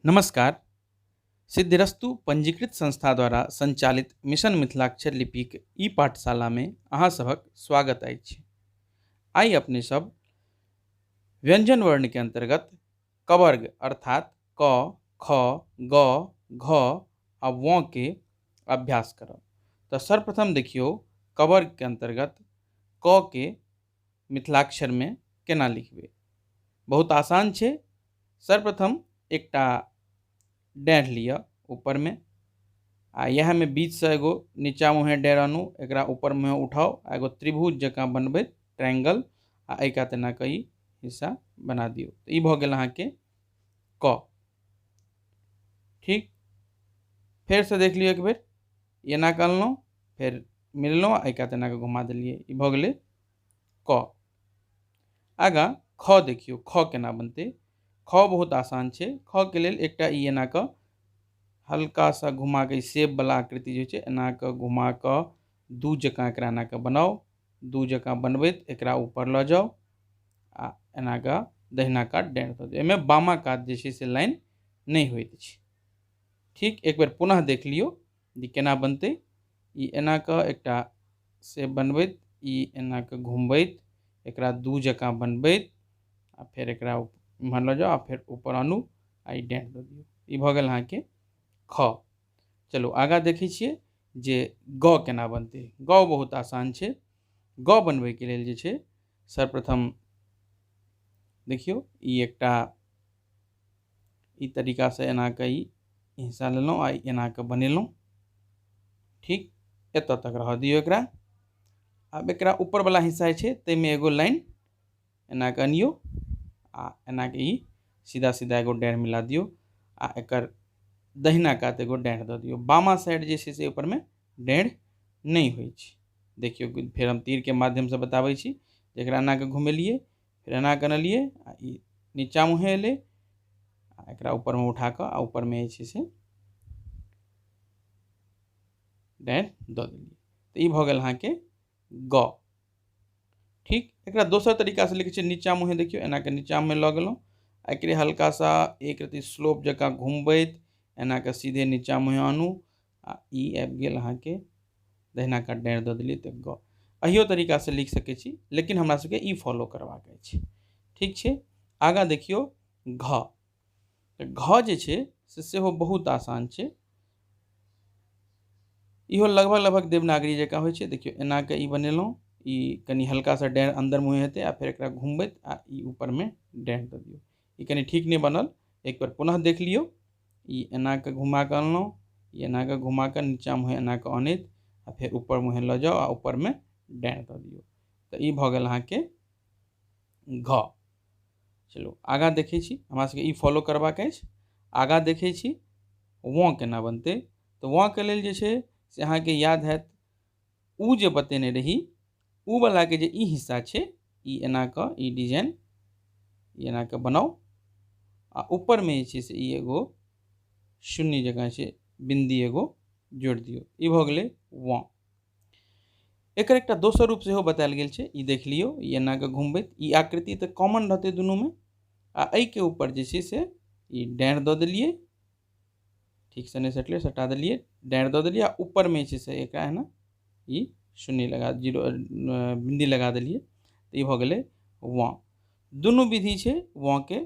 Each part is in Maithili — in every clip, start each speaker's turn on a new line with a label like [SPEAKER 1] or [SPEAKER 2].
[SPEAKER 1] नमस्कार सिद्धिरस्तु पंजीकृत संस्था द्वारा संचालित मिशन मिथिलाक्षर लिपिक ई पाठशालामे अहाँ सभक स्वागत अछि आइ अपने सब व्यंजन वर्ण के अंतर्गत कवर्ग अर्थात क ख ग घ आ व के अभ्यास करब तऽ सर्वप्रथम देखियौ कवर्ग के अंतर्गत क के मिथिलाक्षरमे केना लिखबै बहुत आसान छै सर्वप्रथम एकटा डाँढ़ लिअ ऊपरमे आ इएहमे बीचसँ एगो नीचा मुँहे डाँढ़ आनू एकरा ऊपर मुँहे उठाउ आ एगो त्रिभुज जकाँ बनबै ट्रायंगल आ एहि कात एना कऽ ई हिस्सा बना दियौ तऽ ई भऽ गेल अहाँके क ठीक फेरसँ देख लियौ एक बेर एना कऽ अनलहुँ फेर मिललहुँ आ एका तेनाके घुमा देलियै ई भऽ गेलै क आगाँ ख देखियौ ख केना बनतै ख बहुत आसान छै खके लेल एकटा ई एना कऽ हल्का सा घुमा कऽ सेपवला आकृति जे छै एना कऽ घुमा कऽ दू जकाँ एकरा एना कऽ बनाउ दू जकाँ बनबैत एकरा ऊपर लऽ जाउ आ एना कऽ दहिना कात डाँड़ि दऽ दियौ एहिमे बामा कात जे छै से लाइन नहि होइत छै ठीक एक बेर पुनः देख लियौ ई केना बनतै ई एना कऽ एकटा से बनबैत ई एना कऽ घुमबैत एकरा दू जकाँ बनबैत आ फेर एकरा एम्हर लऽ जाउ आ फेर ऊपर आनू आ ई डेंट दऽ दियौ ई भऽ गेल अहाँके ख चलू आगाँ देखै छियै जे ग केना बनतै ग बहुत आसान छै ग बनबैके लेल जे छै सर्वप्रथम देखियौ ई एकटा ई तरीकासँ एना कऽ ई हिस्सा लेलहुँ आ एना कऽ बनेलहुँ ठीक एतऽ तक रहऽ दियौ एकरा आब एकरा ऊपरवला हिस्सा जे छै ताहिमे एगो लाइन एना कऽ अनियौ आ एना कऽ ई सीधा सीधा एगो डाँड़ि मिला दियौ आ एकर दहिना कात एगो डाँड़ि दऽ दियौ बामा साइड जे छै से ऊपरमे डाँड़ि नहि होइ छै देखियौ फेर हम तीरके माध्यमसँ बताबै छी एकरा एना कऽ घुमेलियै फेर एना कऽ अनलियै आ ई नीचाँ मुँहे एलै आ एकरा ऊपरमे उठा कऽ आ ऊपरमे जे छै से डारि दऽ देलियै तऽ ई भऽ गेल अहाँके ग ठीक एकरा दोसर तरीकासँ लिखै छियै नीचाँ मुँहे देखियौ एना कऽ नीचाँमे लऽ गेलहुँ आ एकरे हल्का सा एक रत्ती स्लोप जकाँ घुमबैत एना कऽ सीधे नीचाँ मुँहे आनू आ ई आबि गेल अहाँके दहिना कात डाँड़ि दऽ देलियै तऽ गऽ एहियो तरीकासँ लिख सकै छी लेकिन हमरा सबके ई फॉलो करबाक अछि ठीक छै आगाँ देखियौ घऽ तऽ घऽ जे छै से सेहो बहुत आसान छै इहो लगभग लगभग देवनागरी जकाँ होइ छै देखियौ एना कऽ ई बनेलहुँ ई कनि हल्का सा डाँड़ि अन्दर मुँहें हेतै आ फेर एकरा घुमबैत आ ई ऊपरमे डाँड़ि दऽ दियौ ई कनि ठीक नहि बनल एक बेर पुनः देख लियौ ई एना कऽ घुमा कऽ अनलहुँ ई एना कऽ घुमा कऽ नीचाँ मुँहे एना कऽ अनैत आ फेर ऊपर मुँहे लऽ जाउ आ ऊपरमे डाँड़ि दऽ दियौ तऽ ई भऽ गेल अहाँके घ चलू आगाँ देखै छी हमरा सबके ई फॉलो करबाक अछि आगाँ देखै छी वँ केना बनतै तऽ वँ के लेल जे छै से अहाँके याद होयत ओ जे बतेने रही ओ बलाके जे ई हिस्सा छै ई एना कऽ ई डिजाइन ई एना कऽ बनाउ आ ऊपरमे जे छै से ई एगो शून्य जकाँ छै बिन्दी एगो जोड़ि दियौ ई भऽ गेलै वाँ एकर एकटा दोसर रूप सेहो बतायल गेल छै ई देख लियौ ई एना कऽ घुमबैत ई आकृति तऽ कॉमन रहतै दुनूमे आ एहिके ऊपर जे छै से ई डाँड़ि दऽ देलियै ठीकसँ नहि सटलै सटा देलियै डाँड़ि दऽ देलियै आ ऊपरमे जे छै से एकरा एना ई शून्य लगा जीरो बिन्दी लगा देलियै तऽ ई भऽ गेलै वाँ दुनू विधि छै वाँके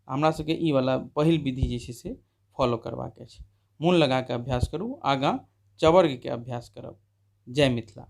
[SPEAKER 1] हमरा सबके ई वाला पहिल विधि जे छै से फॉलो करबाक अछि मोन लगा कऽ अभ्यास करू आगाँ चवर्गके अभ्यास करब जय मिथिला